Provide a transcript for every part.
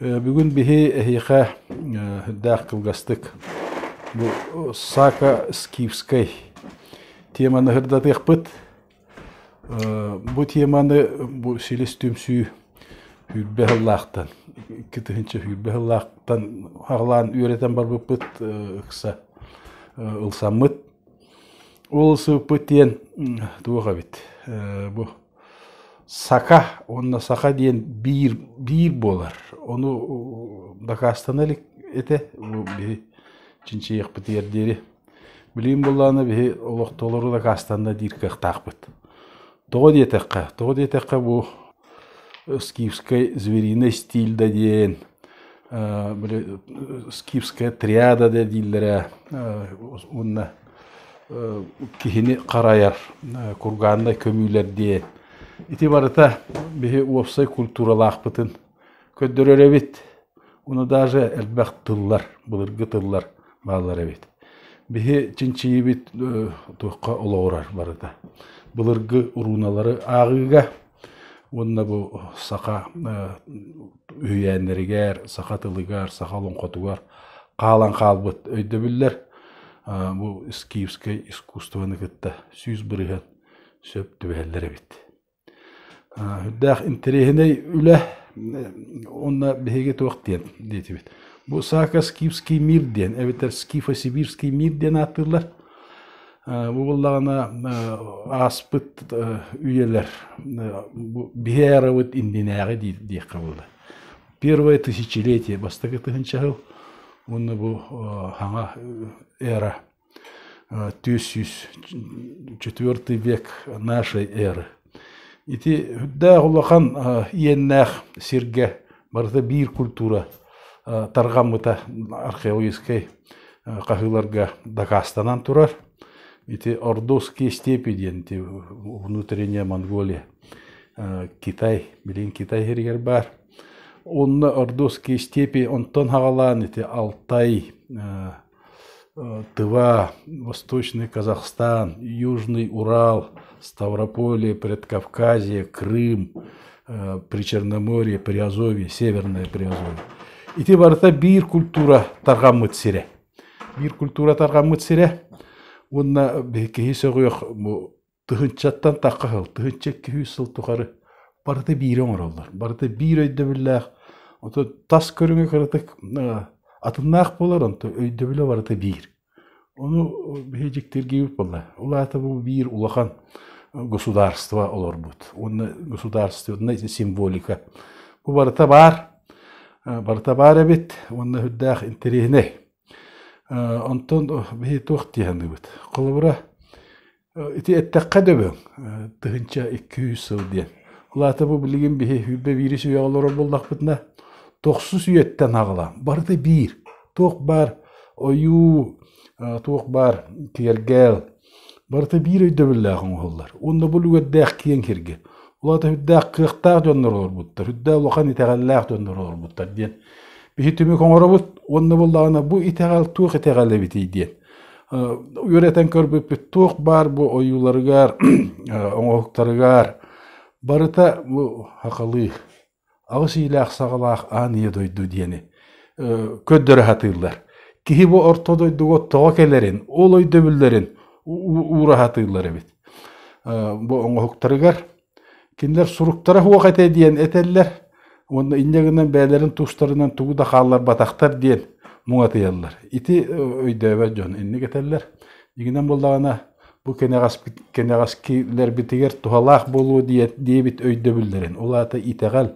Бүгүн биһи эһиэхэ үрдээх кылгастык бу сака-скифскай теманы сырдатыахпыт. Бу теманы бу силис түмсүү сүүрбэ сыллаахтан, икки тыһыынча сүүрбэ сыллаахтан аҕалаан үөрэтэн барбыппыт ыкса ылсаммыт. Ол ылсыбыппыт диэн туох эбит? Бу Сака уонна саха диэн биир биир буолар. Ону дакаастана илик этэ биһи чинчийиэхпитигэр диэри. Билигин буоллаҕына биһи олохтоолору дакаастанна диир кыахтаахпыт. Тоҕо диэтэххэ, тоҕо диэтэххэ бу скифскай звериный стиль да диэн, били скифская триада да дииллэрэ уонна киһини харайар кургааннай көмүүлэр диэн. Ити барыта биһи уопсай культуралаахпытын көрдөрөр эбит. Уну даже элбэх тыллар, былыргы тыллар бааллар эбит. Биһи чинчийибит туохха олоҕурар барыта. Былыргы урууналары ааҕыыга Уонна бу саха үһүйээннэригэр, саха тылыгар, саха олоҥхотугар хаалан хаалбыт өйдөбүллэр бу скифскэй искусствоны кытта сүүс бырыһын сөп түбэһэллэр эбит. Үрдээх интэриэһинэй үлэ уонна биһиги туох диэн диэтибит. Бу Сака скифский мир диэн эбэтэр скифо-сибирский мир диэн ааттыыллар. Бу буллаҕына ааспыт үйэлэр биһи арабыт иннинээҕи диэххэ буолар. Первое тысячелетие бастакы тыһынча сыл уонна бу саҥа эра түөрт сүүс четвертый век нашей эры Ити үрдээх улахан иэннээх сиргэ барыта биир культура тарҕаммыта археологическай хаһыыларга дакаастанан турар. Ити Ордовские степи диэн ити внутренняя Монголия, Китай, билигин Китай сиригэр баар. Онно Ордовские степи онтон хаҕалаан ити Алтай, Тыва, Восточный Казахстан, Южный Урал, Ставрополе, Предкавказье, Крым, Причерноморье, Приазовье, Северное Приазовье. Ити барыта биир культура тарҕаммыт сирэ. Биир культура тарҕаммыт сирэ. Уонна киһи сөҕүөх бу Тыһыынчаттан тахха сыл, тыһыынча икки сүүс сыл тухары барыта биири оҥороллор. Барыта биир өйдөбүллээх. Ото тас көрүҥэ кыратык атыннаах буолар, онтон өйдөбүлэ барыта биир. Ону биһи дьиктиргиибит буолла. Улаата бу биир улахан государство олорбут. Уонна государственная символика. Бу барыта баар. Барыта баар эбит уонна үрдээх интэриэһинэй. Онтон биһи туох диэханыыбыт? Холобура, Ити эттэххэ дөбөҥ, тыһыынча икки-үс сыл диэн. Ол аата бу билигин биһи вирус үйэҕэ олорор буоллахпытына, тохсус үйэттэн аҕалаан, барыта биир. Туох баар ойуу, туох баар киэргэл, барыта биир өйдөбүллээх оҥоһуллар. Уонна бу үлүгэрдээх киэҥ сиргэ. Ол аата үрдээх кыахтаах дьоннор олорбуттар, үрдээх улахан итэҕэллээх дьоннор олорбуттар диэн биһи түмүк оҥоробут. Уонна буоллаҕына, бу итэҕэл туох итэҕэл эбитий диэн үөрэтэн көрбүппүт туох баар бу ойууларыгар, оҥоһуктарыгар барыта бу хахалыы аҕыс иилээх саҕалаах аан ийэ дойду диэни көрдөрө сатыыллар. Киһи бу орто дойдуга тоҕо кэлэрин, ол өйдөбүллэрин уура сатыыллар эбит. Бу оҥоһуктарыгар Кинилэр суруктара суох этэ диэн этэллэр уонна инньэ гынан бэйэлэрин тустарынан тугу да хаалларбатахтар диэн муҥатыйаллар. Ити өйдөөбөт дьон инник этэллэр. Дьиҥинэн буоллаҕына бу кэнэҕэски кэнэҕэскилэрбитигэр туһалаах буолуо диэн диэбит өйдөбүллэрин, ол аата итэҕэл.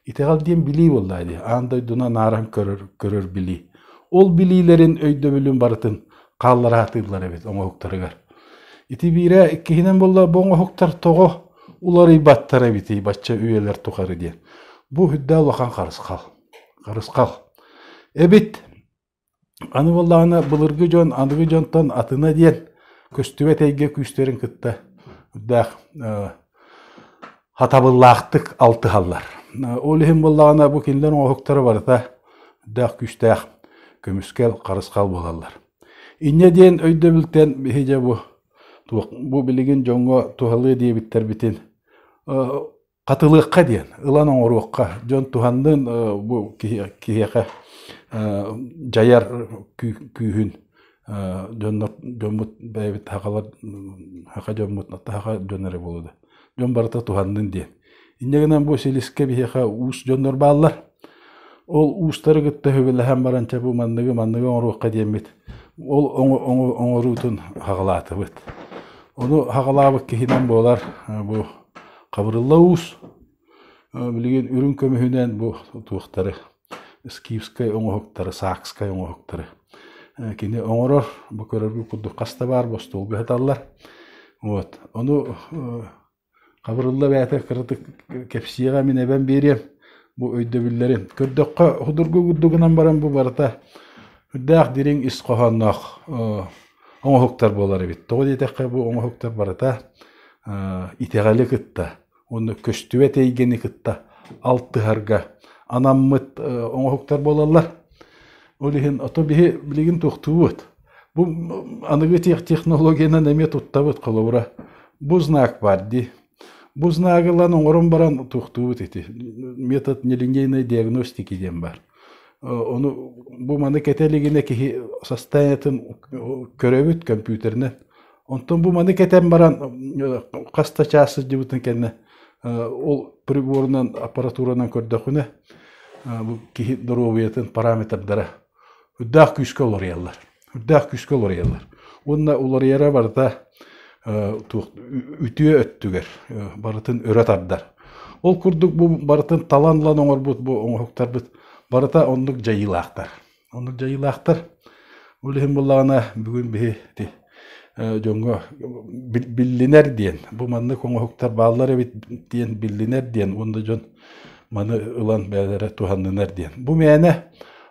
Итэҕэл диэн билии буоллаҕа дии, аан дойдуну анааран көрөр, көрөр билии. Ол билиилэрин өйдөбүлүн барытын хааллараахтыыллар эбит оҥоһуктарыгар. Ити биирэ иккиһинэн буолла бу оҥоһуктар тоҕо уларыйбаттар эбитий бачча үйэлэр тухары диэн. Бу үрдээл улахан харысхал. Харысхал. Эбит аны буоллаҕына былыргы дьон аныгы дьонтон атына диэн көстүбэт эйгэ күүстэрин кытта даах хатабыллаахтык алтыһаллар. Ол иһин буоллаҕына бу кинилэр оҥоһуктара барыта даах күүстээх көмүскэл, харысхал буолаллар. Инньэ диэн өйдөбүлтэн биһи дьэ бу бу билигин дьоҥҥо туһалыа диэбиттэрбитин хатылыахха диэн, ылан оҥоруохха. Дьон туһаннын бу киһиэхэ дьайар күүһүн дьонно дьоммут бэйэбит хахалар хаха дьоммут таха дьон эрэ буолуо да дьон барыта туһаннын диэн инньэ гынан бу силискэ биһиэхэ уус дьоннор бааллар ол уустары кытта хөбүлэһэн баран чэ бу манныгы манныгы оҥоруохха диэммит ол оҥоруутун хаҕалаатыбыт ону хаҕалаабыт киһинэн буолар бу хабырылла уус Билигин үрүҥ көмүһүнэн бу туохтары скифскай оҥоһуктары, саакскай оҥоһуктары кини оҥорор, бу көрөргө курдук хас да баар бостуолга сыталлар. Вот. Ону хабырылла бэйэтэ кыратык кэпсиэҕэ мин эбэм биэриэм бу өйдөбүллэрин. Көрдөххө судургу курдугунан баран бу барыта үрдээх дириҥ ис хоһоонноох оҥоһуктар буолар эбит. Тоҕо диэтэххэ бу оҥоһуктар барыта итэҕэли кытта уонна көстүбэт эйгэни кытта алтыһарга анаммыт оҥоһуктар буолаллар. Ол иһин ото биһи билигин туохтуубут. Бу аныгы технологиянан эмиэ туттабыт холобура. Бу знак бар дии. Бу знагылан оҥорон баран туохтуубут ити. Метод нелинейной диагностики диэн бар. Ону бу маны кэтэ илигинэ киһи состояниетын көрөбүт компьютеринэн. Онтон бу маны кэтэн баран хас да чаас сылдьыбытын кэннэ ол приборунан, аппаратуранан көрдөхүнэ бу киһи доруобуйатын параметрдара үрдээх күүскэ уларыйаллар. Үрдээх күүскэ уларыйаллар. Уонна уларыйара барыта үтүө өттүгэр барытын өрө тардар. Ол курдук бу барытын талан ылан оҥорбут бу оҥоһуктарбыт барыта оннук дьайыылаахтар. Ону дьайыылаахтар. Ол иһин буоллаҕына бүгүн биһи ити дьоҥҥо биллинэр диэн, бу маннык оҥоһуктар бааллар эбит диэн биллинэр диэн уонна дьон маны ылан бэйэлэрэ туһаннынар диэн. Бу мээнэ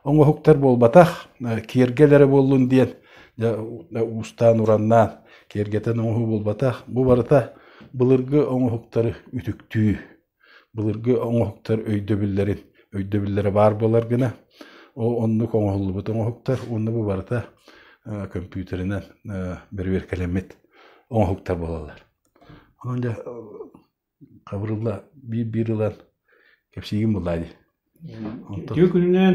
оҥоһуктар буолбатах, киэргэл эрэ буоллун диэн уустаан-ураннаан киэргэтэн оҥоһуу буолбатах. Бу барыта былыргы оҥоһуктары үтүктүү, Былыргы оҥоһуктар өйдөбүллэрин өйдөбүллэрэ баар буолар гына ол оннук оҥоһуллубут оҥоһуктар уонна бу барыта көмпүүтэринэн бэрэбиэркэлэммит оҥоһуктар буолаллар. Онон дьэ хабырылла биир-биир ылан кэпсиигин буллаа дии. Онтон Үтүө күнүнэн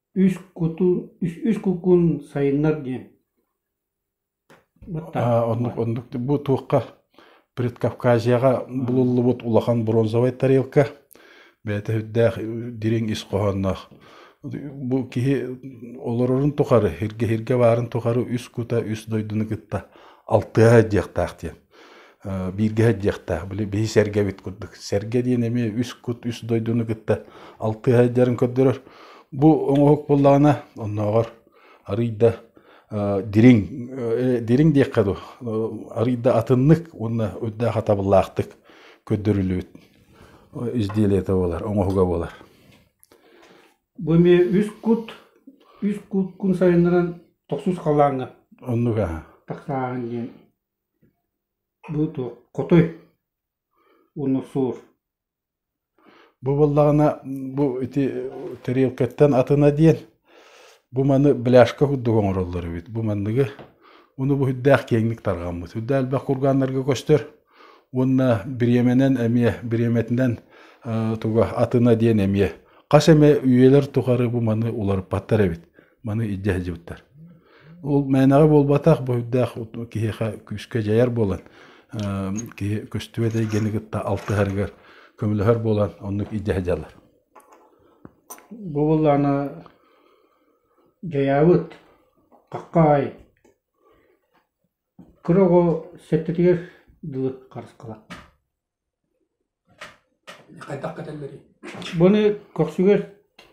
үс куту үс куккун сайыннар диэн оннук оннук бу туохха предкавказияҕа булуллубут улахан бронзовай тарелка бэйэтэ үрдээх дириҥ ис хоһоонноох бу киһи олорорун тухары сиргэ сиргэ баарын тухары үс кута үс дойдуну кытта алтыһа диэхтээх диэн бииргэ сылдьыахтаах били биһи сэргэбит курдук сэргэ диэн эмиэ үс кут үс дойдуну кытта алтыһа сылдьарын көрдөрөр бу оҥоһук буоллаҕына оннооҕор арыйда дириҥ дириҥ диэххэ дуу арыйда атыннык уонна үрдээх атабыллаахтык көрдөрүлүбүт изделиета буолар оҥоһуга буолар бу эмиэ үс кут үс кут күн сайыннаран тохсус халааҥҥа оннук аха тахсааһын диэн Бу туоххутуй, Унусуур? Бу буоллаҕына бу ити тарелкаттан атына диэн бу маны бляшка курдук оҥороллор эбит. Бу манныгы ону бу үрдээх киэҥник тарҕаммыт. Үрдэ элбэх кургааннарга көстөр уонна бириэмэнэн эмиэ бириэмэтинэн туга атына диэн эмиэ хас эмэ үйэлэр тухары бу маны уларыппаттар эбит. маны илдьэ сылдьыбыттар ол мээнэҕэ буолбатах бу үрдээх киһиэхэ күүскэ дьайар буолан киһи көстүбэт эйгэни кытта алтыһарыгар көмөлөһөр буолан оннук илдьэ сылдьаллар бу быллаана дьайаабыт хахаай кыра оҕо сэттэтигэр дылы харысқалақ Буну көхсүгэр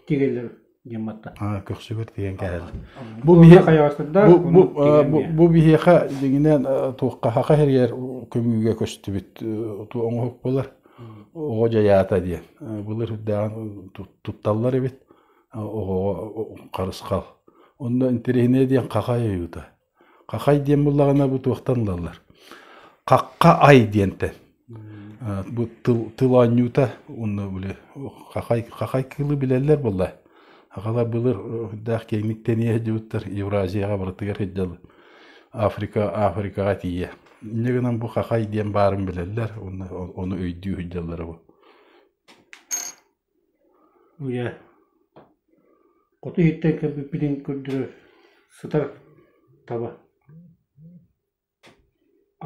тигэллэр диэн батта. Аа, көхсүгэр тиген кээһэллэр. Бу биһиэхэ хайаҕастарда бу биһиэхэ дигинен туоххаха херьер көмүүгэ көстүбүт оҥоһук болар оҕо дьаята диэн былыр үрдээҕин тутталлар эбит оҕоҕо харысхал онно интириһинэ диэн хаха ыйыыта Хахай диэн буллаҕына бу туохтан ылаллар? Хахха ай диэнтэн. Бу тыл, тыл оонньуута унна били хахай, хахай кыылы билэллэр буолла. Хахалар былыр даах киэҥник тэниэ сылдьыбыттар Евразияҕа барытыгар сылдьаллар. Африка, Африкаҕа тиийэ. Инньэ гынан бу хахай диэн баарын билэллэр, онно ону өйдүү сылдьаллара бу. Үйэ хоту иһиттэн кэлбиппитин көрдөрөр сытар таба,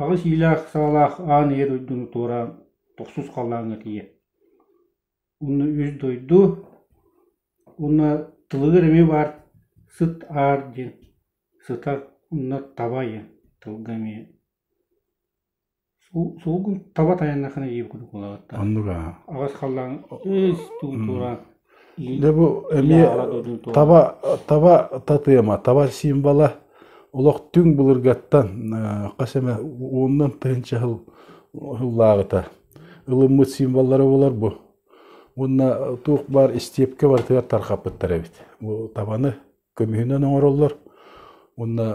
аҕыс иилээх саалаах аан ийэ дойдуну туораан тохсус халлааҥҥа тиийэ. Онно үс дойду уонна тылыгар эмиэ баар сыт аар диэн, сыта, онно таба диэн, тылга эмиэ Суугун таба тайаннахына ийэ кутукулаатта Оннуга аҕыс халлаан ыс тугун туора Дэ бу эмиэ таба таба татыама таба символа олох түҥ былыргаттан хас эмэ уонунан тыһыынча сыл сыллааҕыта ылыммыт символлара буолар бу уонна туох баар истиэпкэ барытыгар тарҕаппыттар эбит бу табаны көмүһүнэн оҥороллор уонна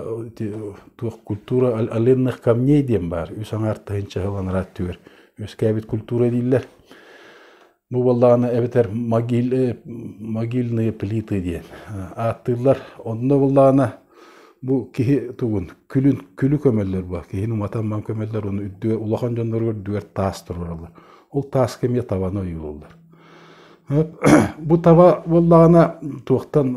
туох культура оленных камней диэн баар үс аҥаартайын чаһыланара өттүгэр үөскээбит культура дииллэр бу буоллаҕына эбэтэр могиль, могильные плиты диэн ааттыыллар онно буоллаҕына бу киһи тугун күлүн күлү көмөллөр бу киһини уматан ман көмөллөр оны үрдүгэр улахан дьоннору үрдүгэр таас тураллар ол тааска эмиэ табаны ойуулууллар Бу таба буоллаҕына туохтан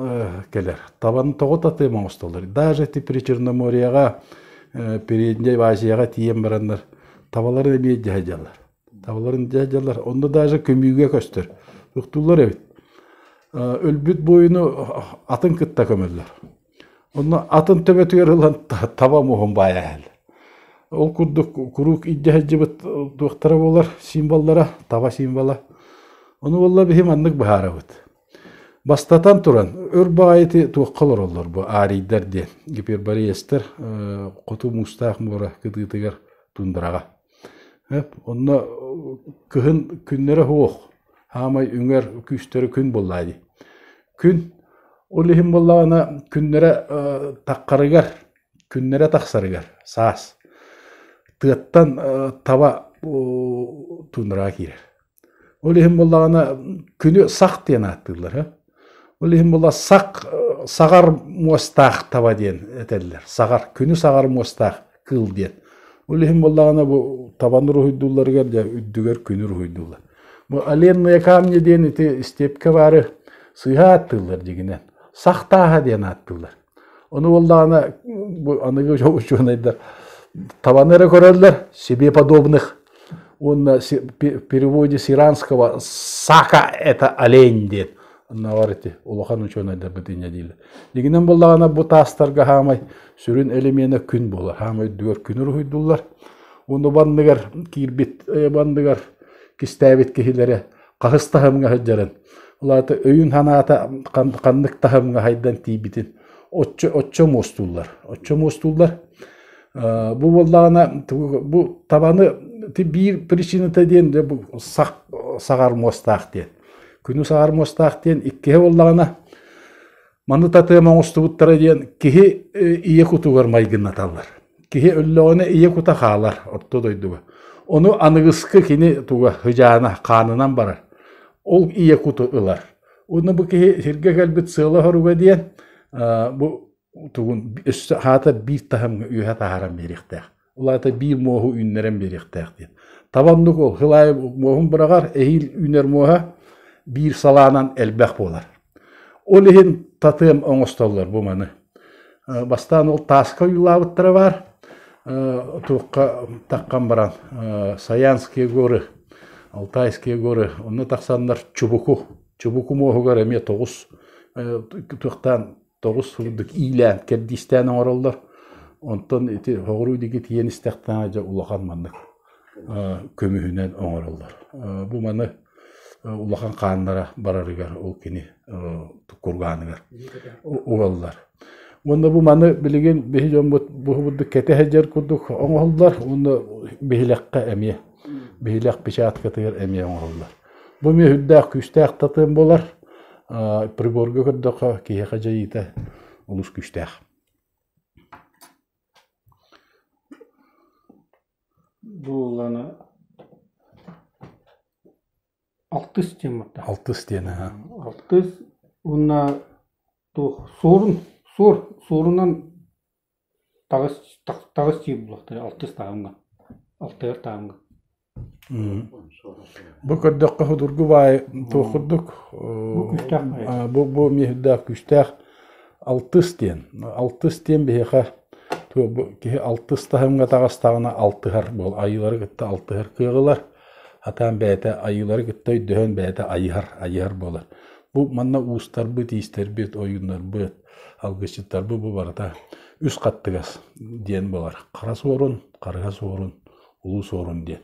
кэлэр? Табаны тоҕо татыым оҥостоллор? Даже ити Причерноморьеҕа, Передней Азияҕа тиийэн бараннар табаларын эмиэ дьэ садьаллар. Табаларын дьэ садьаллар. Онно даже көмүүгэ көстөр. Тохтууллар эбит. Өлбүт буойуну атын кытта көмөллөр. Онно атын төбөтүгэр ылан таба муоһун баайа иһэл. Ол курдук куруук илдьэ сылдьыбыт туохтара буолар символлара, таба символа. Ону буолла биһи маннык быһаарабыт. Бастатан туран, өр баҕайыты туохха олороллор бу арийдар диэн гипербореецтэр хоту муустаах муора кытыытыгар тундураҕа. Эп, онно кыһын күннэрэ суох, саамай үҥэр күүстэрэ күн буоллаҕа дии. Күн ол иһин буоллаҕына күннэрэ таххарыгар, күннэрэ тахсарыгар саас тыаттан таба туннураҕа киирэр. Ол иһин буллаҕына күнү сах диэн ааттыыллар. Ол иһин була сах саҕар муостаах таба диэн этэллэр. Саҕар күнү саҕар муостаах кыыл диэн. Ол иһин буоллаҕына бу табан уруһуйдуулларыгар дьэ үрдүгэр күнү уруһуйдууллар. Бу оленные камни диэн ити степке баары сыыһа ааттыыллар дигинэн. Сах тааһа диэн ааттыыллар. Ону уоллаана бу аныгы учуонайдар табаны эрэ көрөллөр, себе подобных уонна в переводе с иранского сака – это олень диэн. Аннавар ити улахан учуонайдарбыт инньэ диилэр. Дигинен буллаҕана бу таастарга хаамай сүрүн элемена күн буолар. Хаамай үрдүгэр күн уруһуйдуллар. Уну банныгар киирбит банныгар кистээбит киһилэрэ Хаһыс таһымҥа сылдьарын, ол аата өйүн-санаата ханнык таһымҥа хайдан тиийбитин оччо оччо муостууллар. Оччо муостууллар. Бу буоллаҕына бу табаны биир причината диэн сах саҕар муостаах диэн. Күнү саҕар муостаах диэн иккиһэ буоллаҕына маны татыам оҥостубуттара диэн киһи ийэ кутугар майгыннаталлар. Киһи өллөҕүнэ ийэ кута хаалар орто дойдуга. Ону аныгыскы кини туга сыдьаана хаанынан барар. Ол ийэ куту ылар. Уну бу киһи сиргэ кэлбит сыала-хоруга диэн бу тугун өссө хаата биир таһымга үөһэ таһааран биэриэхтээх. Улаата биир муоһу үүннэрэн биэриэхтээх диэн. Табаннык ол хылаайы муоһун быраҕар, эһиил үүнэр муоһа биир салаанан элбэх буолар. Ол иһин татыам оҥостоллор бу маны. Бастаан ол тааска ойуулаабыттара баар. Туохха таххан баран Саянские горы, Алтайские горы, онно тахсаннар Чубуку, Чубуку муоһугар эмиэ тоҕус туохтаан тоҕус сылдык иилээн кэрдиистээн оҥороллор. Онтон ити хоҕуруу диги тиийэн истэхтээҕэ дьэ улахан маннык. көмүһүнэн оҥороллор. Бу маны улахан хааннара барарыгар ол кини кургааныгар угаллар. Уонна бу маны билигин биһи дьоммут буһубутдук кэте хәджер курдук оҥоһуллар уонна биһилэххэ эмиэ биһилэх печаткатыгар эмиэ оҥоһуллар. Бу эмиэ үрдээх күүстээх татым болар. Приборга көрдөхө киһи хадьайыыта олус күүстээх. Буулана алтыс диэммиттэ. Алтыс диэн аһа. Алтыс уонна туох суорун суор суорунан таҕыс таҕыс диир буолуохтара алтыс таһымҥа алтайар таһымҥа Бу көрдөххө судургу баай туох курдук? Бу бу миэхирдээх күүстээх алтыс диэн. Алтыс диэн биһиэхэ киһи алтыс таһымҥа атаҕастаҕына алтыһар буол айыылары кытта алтыһар кыаҕылар. Атаан бэйэтэ айыылары кытта өйдөһөн бэйэтэ айыһар айыһар буолар. Бу манна уустарбыт, иистэрбит, ойууннарбыт, алгысчыттарбыт бу барыта үс хаттыгас диэн буолар. Хара суорун, харыһа суорун улуус уорун диэн.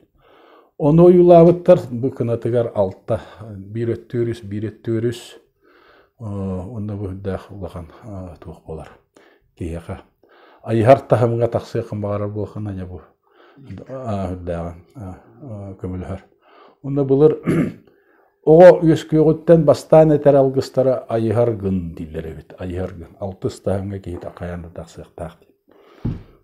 Ону ойуулаабыттар бу кынатыгар алта, биир өттө өрүс, биир өттө өрүс, онно бу үрдээх улахан туох болар киһиэхэ айыһар таһымҥа тахсыахын баҕарар буолхан аня бу үрдээҕин көмөлөһөр онно былыр оҕо үөскүөҕүттэн бастаан этэр алгыстара айыһар гын дииллэр эбит айыһар гын алтыс таһымҥа киһи хайаан да тахсыахтаах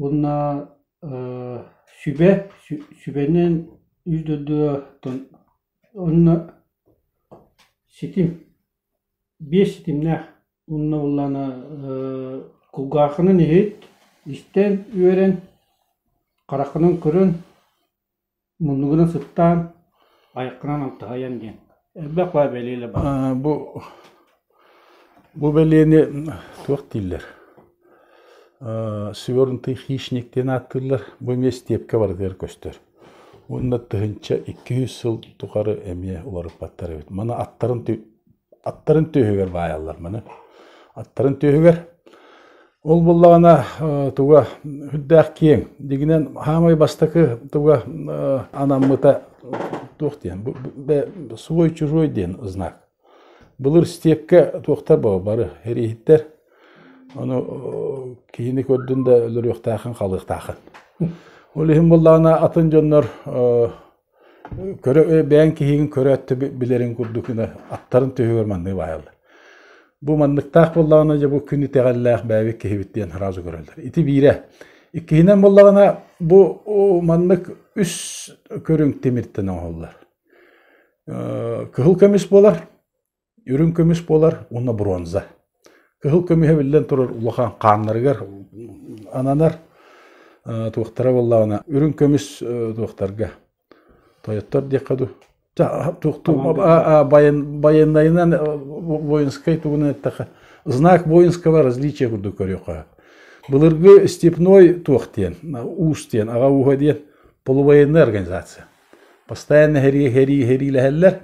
Уонна сүбэ, сүбэнэн үс дойдутыттан уонна ситим, биэс ситимнээх уонна буоллаҕына кулгаахынан иһит, истэн үөрэн, хараххынан көрөн Муннубуна сыттаан, айаххынан алтыһайан диэн, элбэх баа бэлиэлэ баар бу бу бэлиэни туох дииллэр свернутый хищник диэн ааттыыллар бу эмиэ степка барытыгар көстөр уонна тыһыынча икки сыл тухары эмиэ уларыппаттар эбит маны аттарын аттарын түөһүгэр баайаллар маны аттарын түөһүгэр ол буллаҕына туга үрдээх киэҥ дигинэн хаамай бастакы туга анаммыта туох диэн свой чужой диэн знак былыр степке туохтар боо бары эрииһиттэр ону киһини көрдүн да өлөрүөхтээхин халыахтаахын ол иһин буллаҕына атын дьоннор Көрө бэйэҥ киһиҥ көрө өттө билэрин курдук гына аттарын түөһүгэр манныы баайаллар. Бу манныктаах буоллаҕына, дьэ бу күн итэҕэллээх бэйэбит киһибит диэн сразу көрөллөр. Ити биирэ. Иккиһинэн буоллаҕына, бу маннык үс көрүҥ тимиртэн оҥоһуллар. Кыһыл көмүс буолар, Үрүҥ көмүс буолар уонна бронза. Кыһыл көмүһэ биллэн турар улахан хааннарыгар ананар туохтара буоллаҕына үрүҥ көмүс туохтарга тойоттор диэххэ дуу байыаннайынан воинскай тугунан эттэхэ знак воинского различия курдук көрүөххэ былыргы степной туох диэн уус диэн аҕа ууһа диэн полувоенная организация Бастаан иһэриилэһэллэр.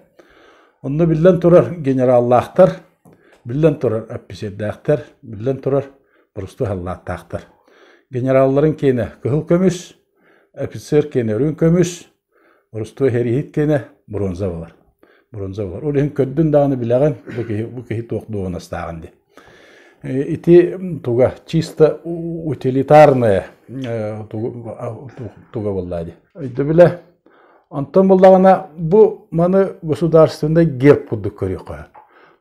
Онно биллэн турар генераллаахтар, биллэн турар эпписиэрдээхтэр, биллэн турар борусту халлааттаахтар. Генералларын киэнэ кыһыл көмүс, офицер киэнэ үрүҥ көмүс, борусту иһэрииһит киэнэ бронза болар. Бронза болар. Ол иһин көрдүн даҕаны билэҕин, бу киһи, бу киһи туох дуоһунастааҕын дии. Ити туга чисто утилитарное туга буоллаа дии. Өйдөбүлэ онтон буллаҕына бу маны государственный герб курдук көрүөххэ.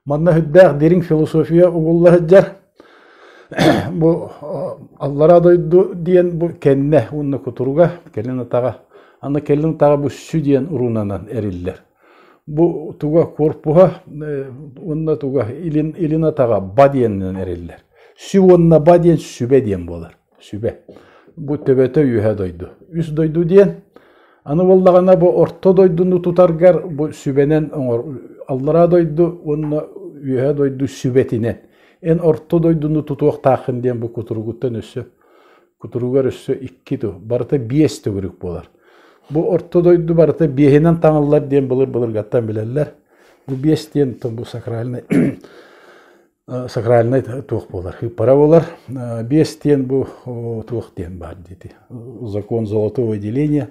Манна сүрдээх дириҥ философия угулла сылдьар. Бу аллара дойду диэн бу кэннэ уонна кутуруга кэлин атаҕа аны кэлин атаҕа бу сү диэн урунанан эриллэр. Бу туга куорпуһа уонна туга илин илин атаҕа ба диэнинэн эриллэр. Сю уонна ба диэн сүбэ диэн буолар. Сүбэ. Бу төбөтө үөһэ дойду. Үс дойду диэн аны буоллаҕына бу орто дойдуну тутаргар бу сүбэнэн оҥор аллараа дойду уонна үөһэ дойду сүбэтинэн эн орто дойдуну тутуохтааххын диэн бу кутуругуттан өссө Кутуругар өссө икки ту, барыта биэс төгүрүк буолар. Бу орто дойду барыта биэһинэн таҥыллар диэн былыргаттан билэллэр. Бу биэс диэн бу сакральный сакральный туох буолар ыппара болар биэс диэн бу туох диэн баар диити закон золотого деления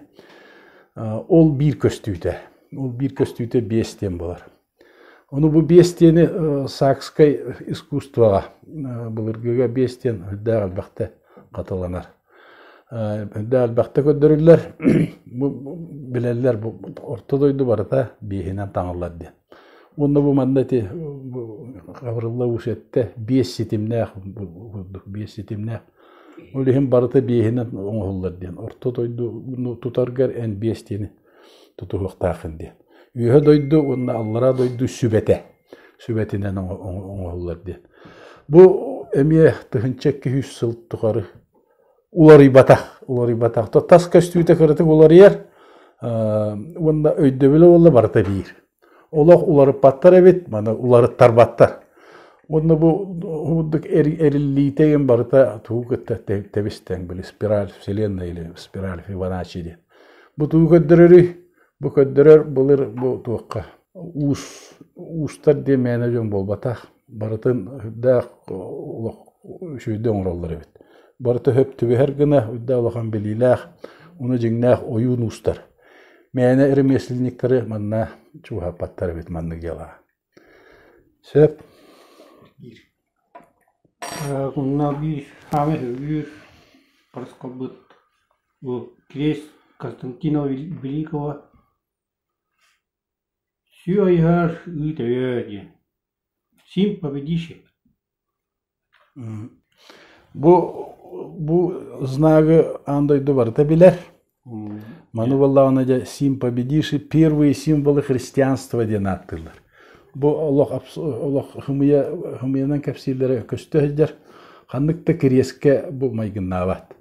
ол биир көстүүтэ ол биир көстүүтэ биэс диэн болар Ону бу биэстиэни саакскай искусствоҕа былыргыга биэстиэн үрдээх элбэхтэ хатыланар. Үрдээх элбэхтэ көрдөрүллэр. Бу билэллэр бу орто дойду барыта биэһинэн таҥыллар диэн. Уонна бу манна ити хабырылла уус эттэ биэс ситимнээх курдук биэс ситимнээх. Ол иһин барыта биэһинэн оҥоһуллар диэн. Орто дойдуну тутаргар эн биэстиэни тутуһуохтааххын диэн. Үөһэ дойду уонна аллараа дойду сүбэтэ, сүбэтинэн оҥоһуллар диэн. Бу эмиэ тыһынча икки үс сыл тухары уларыйбатах, уларыйбатах. Тас көстүүтэ кыратык уларыйар уонна өйдөбүлэ буолла барыта биир. олох уларыппаттар эбит маны уларыттарбаттар уонна бу курдук эриллиитэ иҥин барыта тугу кытта тэбистэн били спираль вселенная или спираль фибоначчи диэн бу тугу көрдөрөрүй бу көрдөрөр былыр бу туохха уус уустар диэн мээнэ дьон буолбатах барытын үрдээх олох үчүгэйдик оҥороллор эбит. Барыта сөп түбэһэр гына үрдээх улахан билиилээх, уну дьиҥнээх ойуун уустар. Мээнэ ремесленниктары манна чугаһаппаттар эбит маннык дьыалаҕа. Сөп. Биир. Куннал биир хаме үгүр проскобыт бу крест Константинова Великого Сүө айыһар, ыыт өйөө диэн сим победишь эбит Бу бу знагы аан дойду барыта билэр. Маны буоллаҕына дьэ сим победишь первые символы христианства диэн ааттыыллар. Бу олох олох хымыйа хымыйанан кэпсииллэрэ көстө сылдьар. Ханнык да кириэскэ бу майгыннаабат.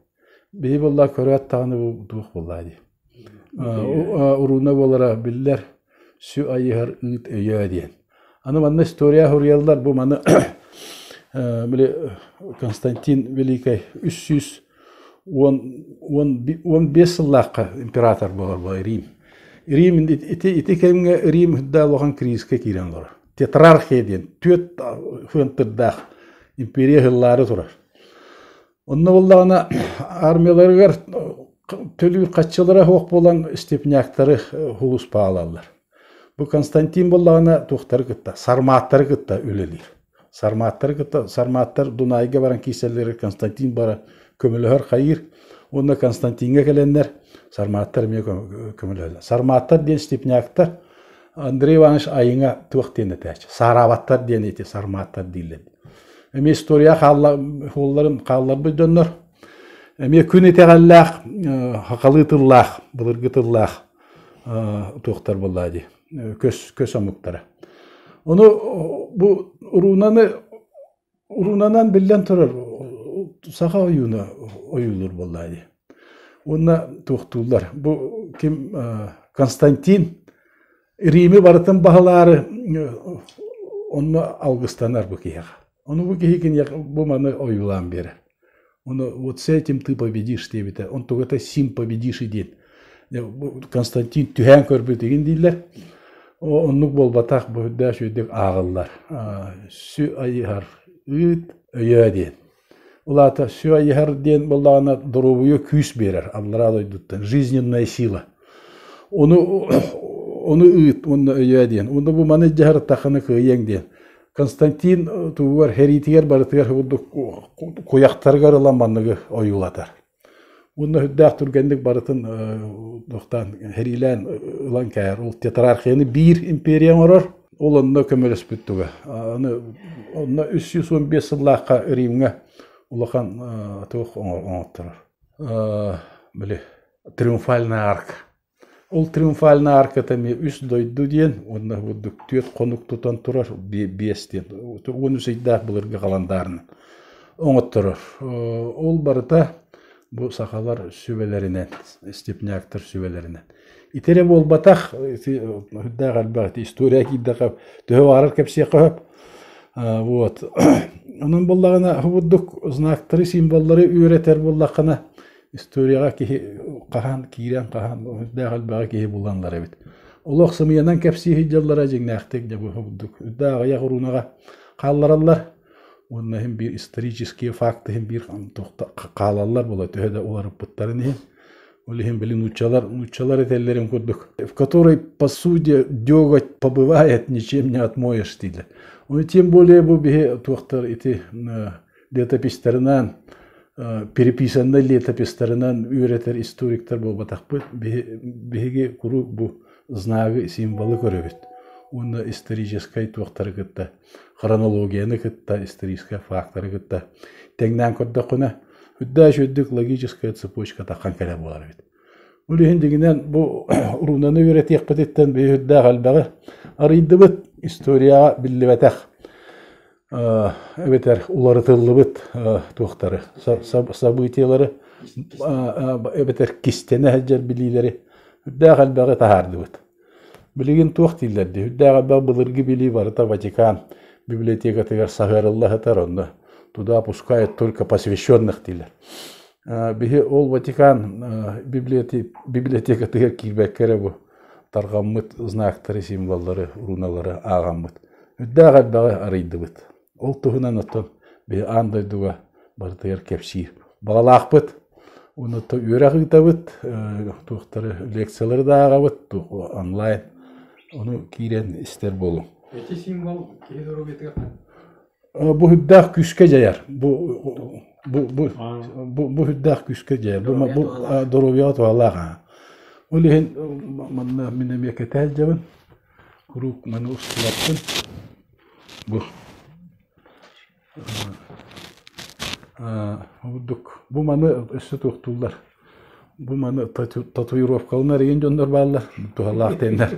Бии буолла көрөөт даҕаны бу туох буоллаа дии. Урууна буолара биллэр сү айыһар ыыт өйөө диэн. Аны манна история суруйаллар бу маны били Константин Великай үс сүүс уон бес сыллаахха император буолар була Рим. Рим ити ити кэмҥэ Рим да улахан кризискэ киирэн олорор. Тетрархия диэн түөрт хыантырдаах империя сыллары турар. Онно буллаҕына армияларыгар төлүүр хаччылара суох буолан степняктары уулуспаалаллар. Бу Константин буллаҕына туохтары кытта сармааттары кытта үлэлиир. Сармааттары кытта сармааттар Дунайга баран киирсэллэр Константин бара көмөлөһөр хайыыр уонна Константиҥҥа кэлэннэр сармааттар эмиэ көмөлөһөллөр. Сармааттар диэн степняктар Андрей Иванович айыҥа туох диэн этээч, саараабаттар диэн ити сармааттар дииллэр. Эми история хаалларын хаалларбыт дьоннор эмиэ күн итэҕэллээх, хахалыы тыллаах, былыргы тыллаах туохтар буолла дии көс көс омуктара. Ону бу уруунаны Уунанан биллэн турар саха ойууна ойуулуур буоллаа дии. Уонна туохтууллар. Бу ким Константин Римы барытын баһылаары онно алгыстанар бу киһиэхэ. Ону бу киһи киниэхэ бу маны ойуулаан биэрэр. Оно вот с этим ты победишь диэбитэ. Он тугата сим победиши диэн. Константин түһээн көрбүтүгүн дииллэр. Оннук буолбатах бу үрдээш үрдүк ааҕыллар. Сү айыһар ыыт өйөө диэн. Улаата сү айыһар диэн боллаана доруобуйа күүс берер аллараа дойдуттан жизненная сила. Ону ону ыыт онно өйөө диэн. Онну бу маны дьаһар таханы кыайыаң диэн. Константин тугугар хэриитигэр барытыгар курдук куйахтарыгар ылан манныгы ойуулатар. Уонна үрдээх түргэнник барытын тохтаан хэриилээн ылан кээр. Ол тетрархияны биир империя оҥорор, ол онно көмөлөспүт туга. Аны онно 315 сыллаахха Римҥа улахан туох оҥотторор. Били триумфальный арк. Ол триумфальнай арката эмиэ үс дойду диэн уонна бурдук түөрт хонук тутан турар биэс диэн уон үс ыйдаах былыргы халандаарынан оҥотторор. Ол барыта бу сахалар сүбэлэринэн, степняктар сүбэлэринэн. Ити эрэ буолбатах, үрдээх элбэх история киирдэхэ төһө баҕарар кэпсиэххэ сөп. Вот. Онон буоллаҕына, бу бурдук знактары, символлары үөрэтэр буоллаххына, историяҕа киһи хаһан киирэн-хаһан сүрдээх элбэҕи киһи буланнар эбит. Олох сымыйанан кэпсии сылдьаллара дьиҥнээхтик дьэ бу бурдук үрдээх аҕыйах уруунаҕа хааллараллар уонна иһин биир исторический факт иһин биир хаалаллар буолар төһө да уларыппыттарын иһин ол иһин били нууччалар нууччалар этэллэрин курдук в которой по сути деготь побывает ничем не отмоешь дийлэр тем более бу биһи туохтар ити летописьтарынан, переписаннай летописьтарынан үөрэтэр историктар буолбатахпыт. Биһиги куруук бу знагы, символы көрөбүт. Уонна историческай туохтары кытта, хронологияны кытта, историческай фактары кытта тэҥнээн көрдөххүнэ, үрдээш үрдүк логическая цепочка таххан кэлэ буолар эбит. Ол иһин дигинэн бу уруунаны үөрэтиэхпититтэн биһирдээх элбэҕи арыйдыбыт, историяҕа биллибэтэх эбэтэр уларытыллыбыт туохтары событиелары эбэтэр кистэнэ сылдьар билиилэри үрдээх элбэҕи таһаардыбыт. Билигин туох дииллэрдии үрдээх элбэх былыргы билии барыта Ватикан библиотекатыгар саһыарыллаһытар онно туда пускают только посвященных дииллэр. Биһи ол Ватикан библиотекатыгар киирбэккэ эрэ бу Тарҕаммыт знактары, символлары, руналары ааҕаммыт, үрдээх элбэҕи арыйдыбыт. Ол туһунан оттон биһи аан дойдуга барытыгар кэпсиир баҕалаахпыт. Онно үөрэх ыытабыт, туохтары лекциялары да ааҕабыт, туох онлайн. Ону киирэн истэр буолуҥ. Эти символ киһи доруобуйатыгар Бу үрдээх күүскэ дьайар. Бу бу бу бу бу үрдээх күүскэ дьайар. Бу бу доруобуйаҕа туһалаах аа. Ол иһин манна мин эмиэ кэтээл дьабын. Куруук маны устулаппын. Бу Обурдук бу маны өссө туохтууллар. Бу маны татуировкаланар иген дьоннор бааллар. Туһалаах теннер.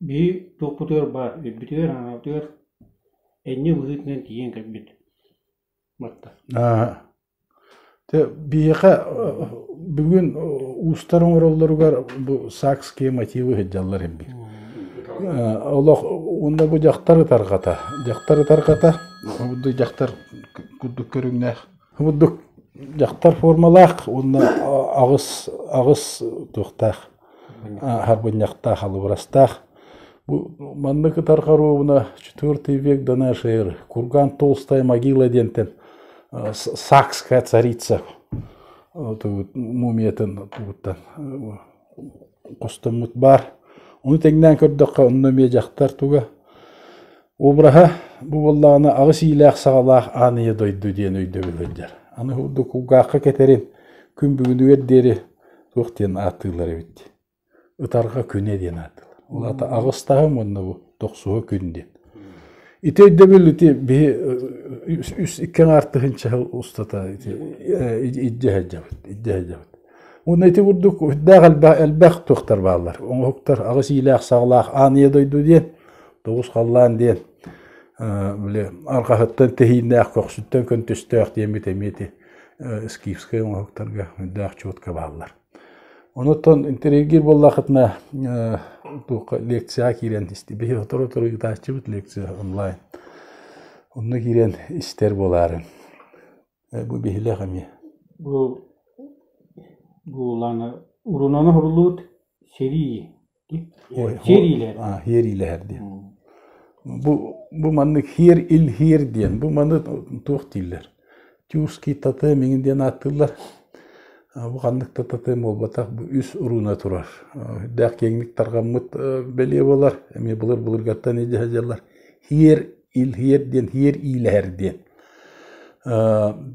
Биһи туохпутугар баар, үрбүтүгэр-аҥаратыгар энньэ быһыытынан тиийэн кэлбит барда Дьэ биһиэхэ бүгүн уустар оҥороллоругар бу саакские мотивы сылдьаллар эбит олох уонна бу дьахтар ытарҕата дьахтар ытарҕата курдук дьахтар курдук көрүҥнээх курдук дьахтар формалаах уонна аҕыс аҕыс туохтаах Ааһарбынньахтаах алыбырастаах. Бу манны кытар хоруобуна четвертый век до нашей эры Курган толстая могила диэнтэн Сакская царица мумиятын тугуттан хостоммут баар. Ону тэҥнээн көрдөххө онно эмиэ дьахтар туга обраһа бу буоллаҕына аҕыс иилээх саҕалаах ааныйа дойду диэн өйдөбүл сылдьар. Аны курдук кулгаахха кэтэрин күн бүгүнүгэр диэри туох диэн ааттыыллар эбит ытарҕа күнэ диэн ааттыыллар ол аата аҕыс таһым уонна бу дохсуһа күн диэн ити өйдөбүл ити биһи үс иккиэн артыһынча сыл устата ити илдьэ сылдьабыт илдьэ сылдьабыт уонна ити курдук үрдээх элбэх элбэх туохтар бааллар оҥоһуктар аҕыс иилээх саҕалаах ааныйа дойду диэн тоҕус халлаан диэн били арҕаһыттан тэһииннээх көхсүттэн көнтөстөөх диэммит эмиэ ити скифскай оҥоһуктарга үрдээх чуотка бааллар. Онуттан интервьюгиир буоллахытына туохха лекцияҕа киирэн истибит сотору-сотору ытааччыбыт лекция онлайн. Онно киирэн истэр буолаарын. Бу биһилэх эмиэ. Бу буланы урунаны хорулуут сэрии Хиэриилэһэр диэн. Бу бу маннык хиэр ил хиэр диэн бу маны туох дииллэр тюркский татым миҥин диэн ааттыыллар бу ханнык да татым буолбатах бу үс урууна турар үрдээх киэҥник тарҕаммыт бэлиэ болар эмиэ былыр былыргаттан идиһэ дьаллар хиэр илһийэр диэн иһиэр иилэһэр диэн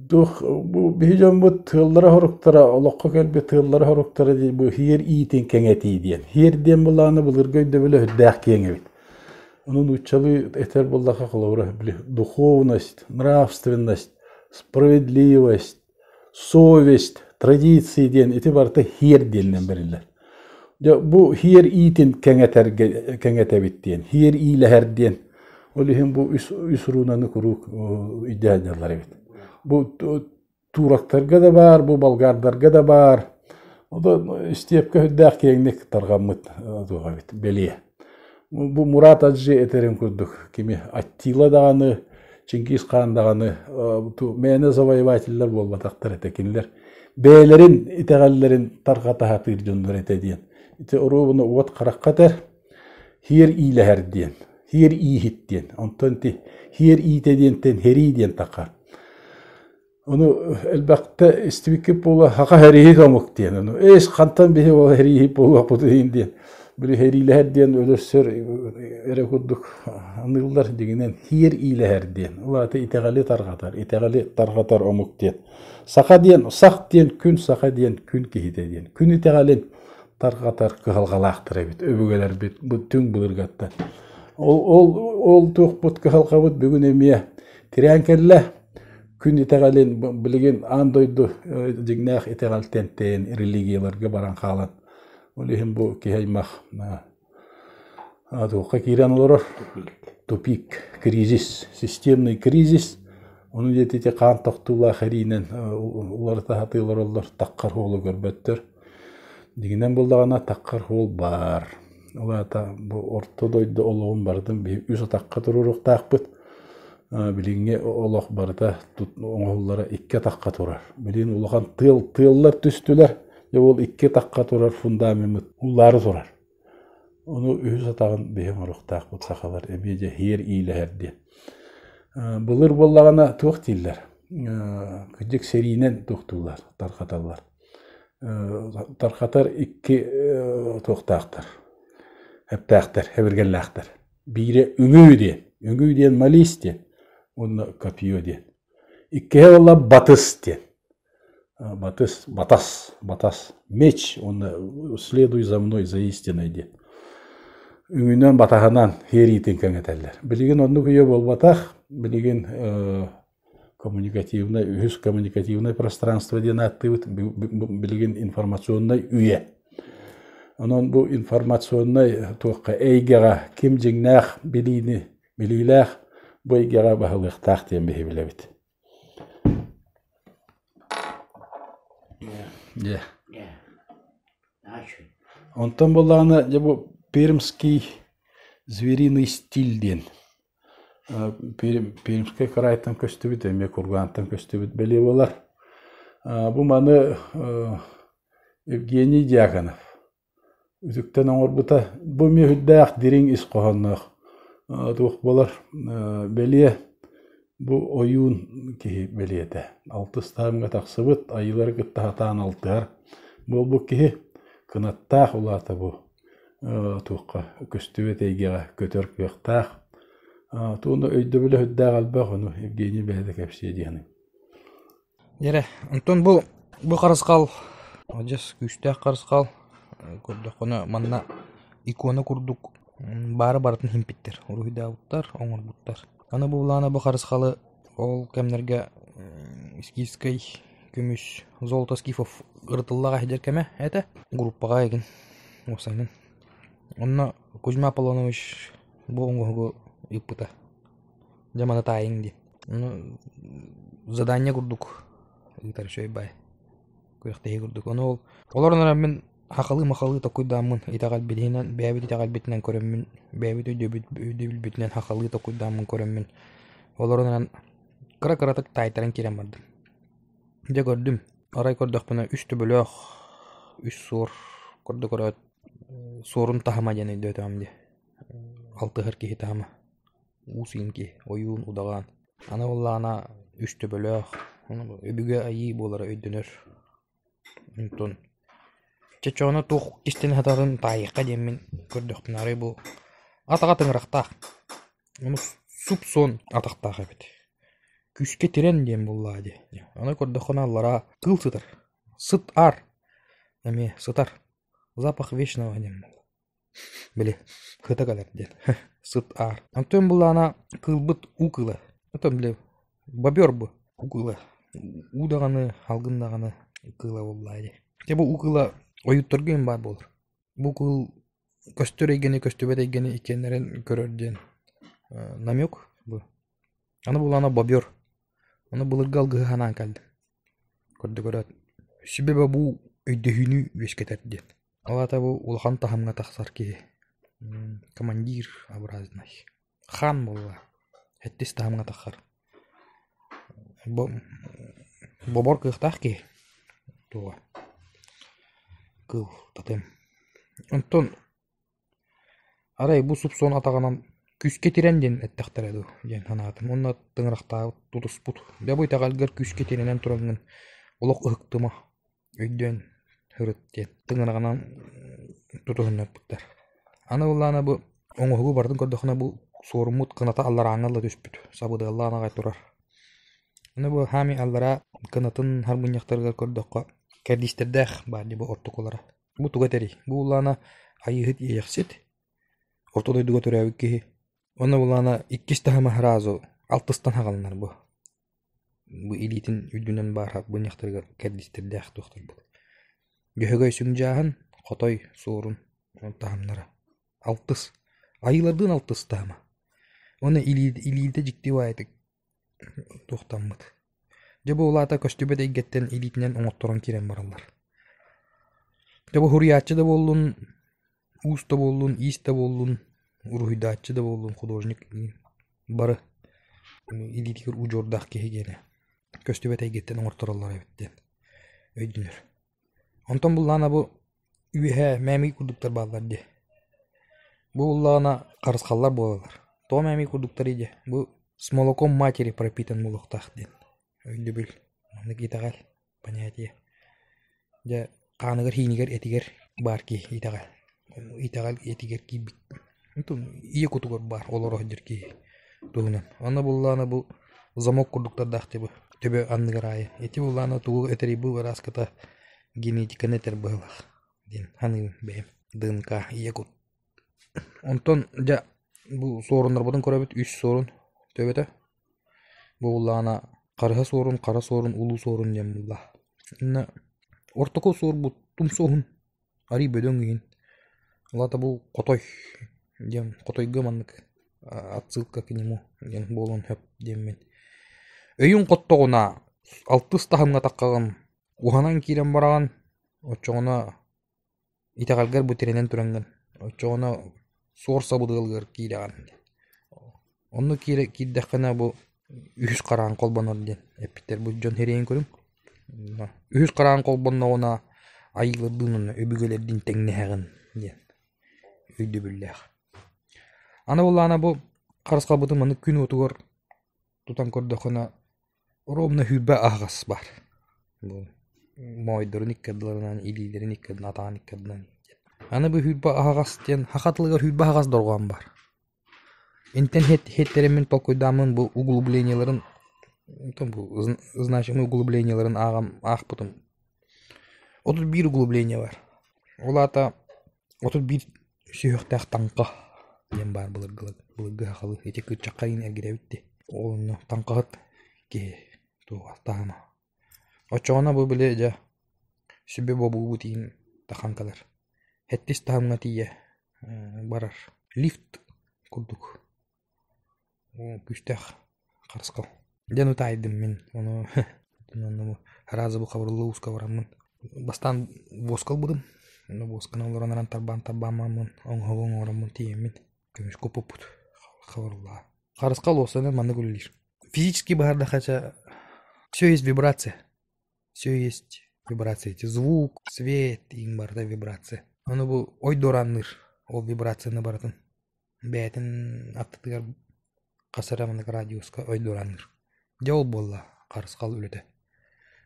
туох бу биһи дьоммут тыаллара-соруктара олоххо кэлбит тыаллара-соруктара дии бу иһиэр иитин кэҥэтии диэн иһиэр диэн былааны былыргы өйдөбүлэ үрдээх киэҥ эбит Ону нууччалыы этэр буллаха холобура били духовность, нравственность, справедливость, Совесть, традиции диэн ити барыта һиэр диэнинэн бэриллэр. Дьэ, бу һиэр иитин кэҥэтэргэ, кэҥэтэбит диэн, һиэр иилэһэр диэн, ол иһин бу үс, үс руунаны куруук өйдөөн дьаллар эбит. Бу турактарга да баар, бу болгардарга да баар. Ону истиэпкэ үрдээх киэҥник тарҕаммыт туох эбит, бэлиэ. Бу Мурат Адье этэрин курдук, кими Аттила даҕаны, Чингис хаан даҕаны мээнэ завоевателлар буолбатахтар этэ кинилэр бэйэлэрин итэҕэллэрин тарҕата сатыыр дьоннор этэ диэн. Ити оруобуна уот харахха этэр, хиэр иилэһэр диэн, хиэр ииһит диэн, онтон ити хиэр иитэ диэнтэн херии диэн таха. Ону элбэхтэ истибиккит буола, хаха хэрииһит омук диэн. Ону эс хантан биһи ол хэрииһит буолуохпут иһин диэн. Били хэриилэһэр диэн өлөрсөр эрэ курдук аныыллар дигинэн хиэр иилэһэр диэн. Улааты итэҕэли тарҕатар, итэҕэли тарҕатар омук диэн. Саха диэн сах диэн күн саха диэн күн киһитэ диэн. Күн итэҕэлин тарҕатар кыһалҕалаахтар эбит өбүгэлэрбит бүтүн былыргаттан. Ол ол ол туохпут кыһалҕабыт бүгүн эмиэ тирээн кэллэ Күн итэҕэлин билигин аан дойду дьиҥнээх итэҕэлтэн тэйэн религияларга баран хаалан ол иһин бу киһи аймах туохха киирэн олорор тупик кризис системный кризис ону диэки ити хаан тохтуулаах эриинэн уларыта сатыы олороллор таххар уолу көрбөттөр Дигинэн булдаҕына таххар уол баар. Ол аата бу орто дойду олоҕун барытын биһи үс атахха туруоруохтаахпыт. Билиҥҥи олох барыта оҥоһуллара икки атахха турар. Билигин улахан тыал тыаллар түстүлэр. Дьэ ол икки атахха турар фундамеммыт улаары турар. Ону үһүс атаҕын биһиҥ оруохтаахпыт сахалар эмиэ дьэ һиэр иилэһэр диэн. Былыр буоллаҕына туох дииллэр? Кырдьык сэриинэн туохтуулар, тархаталлар. Тархатар икки туохтаахтар? Эптээхтэр, эбиргэллээхтэр. Биирэ үҥүү диэн, үҥүү диэн малис диэн, уонна копье диэн. Иккиһэ буолла батыс диэн. батыс батас батас меч уонна следуй за мной за истиной диэн үҥүнэн батаһынан иэриитин кэҥэтэллэр билигин оннук үйэ буолбатах билигин коммуникативнай үһүс коммуникативнай пространство диэн ааттыыбыт билигин информационнай үйэ онон бу информационнай туохха эйгэҕэ ким дьиҥнээх билиини билиилээх бу эйгэҕэ баһылыахтаах диэн биһи билэбит Онтон буоллаҕына дьэ бу пермский звериный стиль диэн пермскай кыраайтан көстүбүт эмиэ кургаантан көстүбүт бэлиэ буолар бу маны евгений дьяконов Үтүктэн оҥорбута бу мүөһүрдээх дириҥ ис хоһоонноох туох буолар бэлиэ бу ойуун киһи бэлиэтэ алтыс таһымҥа тахсыбыт айыылары кытта сатаан алтыһар буолбут киһи кынаттаах улаата бу туохха көстүбэт эйгэҕэ көтөр кыахтаах туонна өйдөбүл өһүрдээх элбэх ону Евгений бэйэтэ кэпсиэ диэхиниҥ Дьэрэ, онтон бу бу харысхал адьас күүстээх харысхал көрдөххүнэ манна икона курдук баары барытын иһимпиттэр, уруһуйдаабыттар, оҥорбуттар. Аны бу былаана бу харысхалы ол кэмнэргэ искифскэй көмүс, золото скифов ырытыллаҕа иһдэр кэмэ этэ, группаҕа игин уопсайынан. Онно Кузьма Аполлонович бу оҥоһугу ыыппыта. Дьэ маны таайыҥ дии. Задание курдук ыытар үчүгэй бай. Күрэхтэһии курдук. Ону ол олорунаран мин хахалыы-махалыы токуйдааммын итэҕэл билиһинэн бэйэбит итэҕэлбитинэн көрөммүн бэйэбит өйдөбүл өйдөбүлбүтүнэн хахалыы токуйдааммын көрөммүн олорунаран кыра-кыратык таайтаран киирэн бардым. Дьэ көрдүм. Арай көрдөхпүнэ үс төбөлөөх үс суор көрдө көрөөт суорун таһыма диэн өйдөөтөҕүм дии. Алтыһар киһи таһыма. Уус иҥки, ойуун удаҕан, аны буоллаҕына үстөбөлөөх, өбүгэ айыы буолара өйдөнөр. Онтон чэ чоҕуна туох истэн сатаатын таайыахха диэммин көрдөхпүнэ арай бу атаҕа тыҥырахтаах, ону суп-суон атахтаах эбит. Күүскэ тирэн диэн буоллаҕа дии. Аны көрдөххүнэ аллараа кыыл сытар, сыт аар эмиэ сытар, запах вечного диэн буолла. били кыта кэлэр диэн сыт аар онтон булаана кыылбыт уу кыыла оттон били бобер бу уу кыыла уу даҕаны алгын даҕаны кыыла буоллаа дии дьэ бу уу кыыла ойуутарга им баар буолар бу кыыл көстөр эйгэни көстүбэт эйгэни итиэннэрин көрөр диэн намек бу аны булаана бобер аны былыргы алгыһы санаан кэллим Курдук эрат, сүбэ бобуу, өйдөһүүнү үөскэтэр диэн. Ол аата бу улахан таһымҥа тахсар киһи командир образнай, хаан буолла, сэттис таһымҥа тахсар. Бобор кыахтаах киһи туоҕа. Кыл, тотем. Онтон Арай бу суб-суон атаҕынан «күүскэ тирэн» диэн эттэхтэрэ дуу диэн санаатым уонна тыҥырахтаабыт тутуспут «бэл бу итэҕэлгэр күүскэ тирэнэн тураҥҥын олох ыһыктыма, өйдөөн сырыт» диэн тыҥыраҕынан тутуһуннарбыттар. Аны ыллаана бу оҥоһугу барытын көрдөххүнэ бу суоруммут кыната алларааҥҥа ылла түспүт, сабыдыаллаан аҕай турар. Аны бу хаамыы аллараа кынатын харбынньахтарыгар көрдөххө кэрдиистэрдээх баар дии бу ортокулара. Бу туга этэрий? Бу улаана Айыыһыт иэйэхсит, Орто дойдуга төрөөбүт киһи. Уонна улаана иккис таһыма разу алтыстан хагалынар бу. Бу илиитин үрдүнэн баарга буньахтарга кэрдистирдээх туохтарбыт. Бөһөгөй сүҥдьааһын, Хотой суорун таһымнара. Алтыс. Айыылардыын алтыс таһыма. Уонна илиитэ дьикти баайытык туохтаммыт дьэ бу ол аата көстүбэт эйгэттэн илиитинэн оҥотторон киирэн бараллар дьэ бу суруйааччы да буоллун уус да буоллун иис да буоллун уруһуйдааччы да буоллун художник бары илиитигэр удьуордаах киһи гиэнэ көстүбэт эйгэттэн оҥортороллор эбит диэн өйдөнөр Онтон буллаҕына бу үөһэ мээмий курдуктар бааллар дии. Бу буллаҕына харысхаллар буолаллар. Тоҕо мээмий курдуктарый дии? Бу с молоком матери пропитан буолуохтаах диэн өйдөбүл. Маннык итэҕэл, понятие. Дьэ, хааныгар-иһиинигэр этигэр баар киһи итэҕэл. Итэҕэл этигэр киирбит ийэ кутугар баар олоро сылдьар киһи туһунан. Онно буллаана бу замок курдуктардаах дьыбы төбө анныгар аайы. Ити буллаана тугу этэрий бу вырааската генетиканы этэр быһыылаах диэн саныыбын бэйэм. ДНК ийэ кут. Онтон дьэ бу суоруннарбытын көрөбүт үс суорун төбөтө. Бу буллаана харыһа суорун, хара суорун, улуу суорун диэн булла. Инна ортоку суорбут тумсуоһун арыый бөдөҥ иһин алаата бу хотой диэн хотойго маннык отсылка к нему диэн буолуон сөп диэммин өйүҥ хоттоҕуна алтыс таһымҥа таххаҕын уһанан киирэн бараҕын оччоҕуна итэҕэлгэр бу тирэнэн тураҥҥын оччоҕуна суор сабыдыалыгар киирэҕин онно киирэ киирдэххинэ бу үһүс хараҥа холбонор диэн эппиттэрбит дьон сэрэйэн көрүҥ үһүс хараҥа холбонноҕуна айыылардыын уонна өбүгэлэрдиин тэҥнэһэҕин диэн өйдөбүллээх аны буоллаҕына бу харысхалбытын маннык күн уотугар тутан көрдөххүнэ Оруобуна сүүрбэ аһаҕас бар. моойдорун иккардыларынан, илиилэрин иккардыларынан, атаҕын иккардыларынан диэн. Аны бу сүүрбэ аһаҕас диэн саха тылыгар сүүрбэ аһаҕас дорҕоон бар. Интэн иһиттэрэммин толкуйдааммын бу углублениеларын значимый углублениеларын ааҕаммын аахпытым. отут биир углубление бар. Ол аата отут биир сүһүөхтээх таҥха диэн баар былыргылар былыргы сахалыы ити кыччахха иин эргирэбит дии ол онно таҥхаһыт киһи туоҕа таһыма оччоҕуна бу били дьэ сүбэ бобуубут иин тахан кэлэр хэттис таһымҥа тиийэ барар лифт курдук Күүстээх харысхал диэн утаайдым мин ону араас да хабырылла ууска бараммын бастаан воска ылбытым ону восканы олорон баран тарбаан тарбааммын оҥоһугу оҥороммун тиийэммин көмүскэ уппуппут хабырыллаҕа харысхал уос аны маннык үлэлиир физически баардахача все есть вибрация все есть вибрация эти звук свет иҥ барыта вибрация ону бу ой дуораанныыр ол вибрацияны барытын бэйэтин аттытыгар хас эрэ маннык радиуска ойдуораанныыр. Дьэ ол буолла харысхал үлэтэ.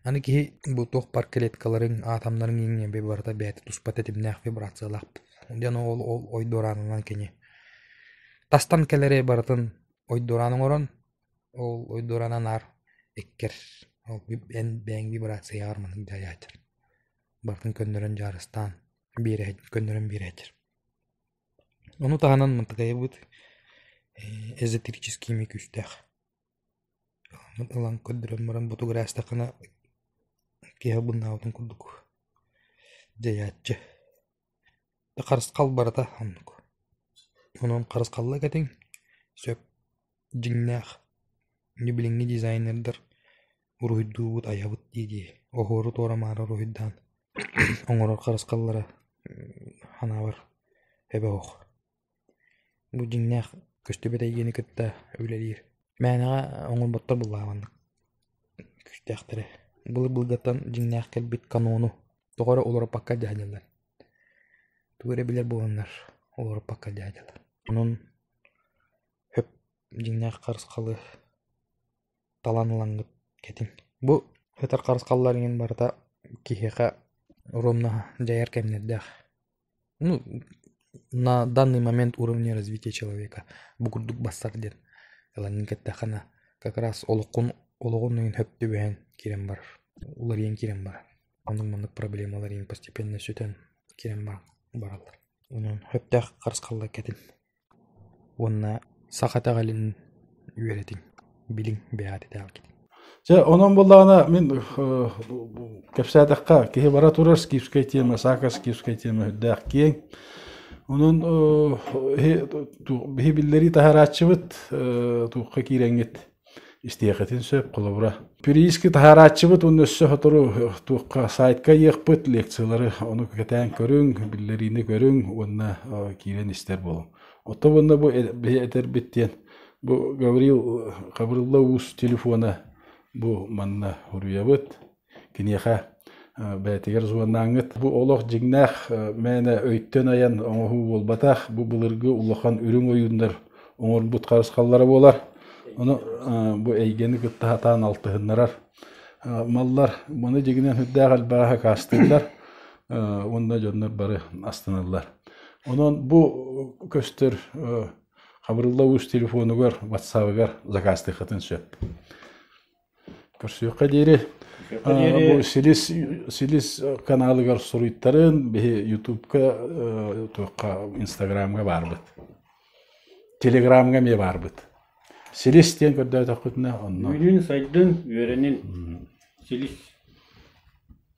Аны киһи бу туох бар клеткаларыҥ, атомнарыҥ иҥниэ барыта бэйэтэ туспа тэтимнээх вибрациялаах. Дьэ ол ол ойдуораанынан кини тастан кэлэри барытын ойдуораан оҥорон ол ойдуораана наар эккэр ол бэйэҥ вибрацияҕар маннык дьайааччар барытын көннөрөн дьаарыстаан биэрэһин көннөрөн биэрэһиччэр Ону таһынан Мантыкайабыт эзотерическими күүстээх. Ылан көрдөрөн баран ботугар ээстэххинэ киһи быланаабытын курдук дьайааччы. Харысхал барыта оннук. Онон харысхалла кэтиҥ, сөп. Дьиҥнээх, дьэ билиҥҥи дизайнердар уруһуйдуубут, айабыт дии-дии, оһуору-туора-маары уруһуйдаан оҥорор харысхаллара санаабар эбэ оһох. Бу дьиҥнээх көстүбэт эйгэни кытта үлэлиир. Мээнэҕэ оҥорботтор былаанманнык күүстээхтэрэ. Былыр-былыргаттан дьиҥнээх кэлбит канону тоҕо эрэ уларыппакка дьаһадьыллар. Тугу эрэ билэр буоланнар, уларыппакка дьаһадьыллар. Онон Өп дьиҥнээх харысхалы талан ылаҥҥыт кэтиҥ. Бу өтөр харысхаллар иҥин барыта киһиэхэ уруомнаһа дьайар кэмнэрдээх. Ну, на данный момент уровне развития человека бу курдук барсар диэн ылаҥҥын кэттэххинэ как раз олоххун олоҕун иҥин сөп түбэһэн киирэн барар. Уларыйан киирэн барар. Оннук-маннык проблемалар иҥин постепенно сүтэн киирэн баран бараллар. Онон сөптөөх харысхаллар кэтин. уонна саха итэҕэлин үөрэтиҥ, билиҥ, бэйэҕит итэҕэлгитин. Дьэ, онон буоллаҕына, мин кэпсээтэххэ, киһи бара турар скифскэй тиэмэ, саакаскифскэй тиэмэ үрдээх киэҥ. Онон биһи биллэрии таһаарааччыбыт, туохха киирэҥҥит Истиэхитин сөп, холобура, переиски таһаарааччыбыт уонна өссө сотору туохха сайтка ыйыахпыт, лекциялары ону кэтээн көрүҥ, биллэриини көрүҥ уонна киирэн истэр буолуҥ. Оттон уонна бу этэрбит диэн, бу Гаврил Гаврилла Уус телефона бу манна уруйабыт. Киниэхэ бэйэтигэр звоннааҥҥыт. Бу олох дьиҥнээх мээнэ өйтөн айан оҥоһуу буолбатах. Бу былыргы улахан үрүҥ ойууннар оҥорбут харысхаллара буолар. Ону бу эйгэни кытта сатаан алтыһыннарар маллар. Маны дьиҥинэн үрдээх элбэҕи акаастыыллар уонна дьоннор бары астыналлар. Онон бу көстөр хабырылла уус телефонугар, ватсабыгар закаастыаххытын сөп. Көрсүөххэ диэри. Көрсүөххэ диэри. Бу силис, силис каналыгар суруйтарын биһи Ютубка, туохха, Инстаграмга баарбыт. Телеграмга эмиэ баарбыт. Силис диэн көрдөөтөххүтүнэ онно. Үүнүн, сайдын, үөрэнин. Силис.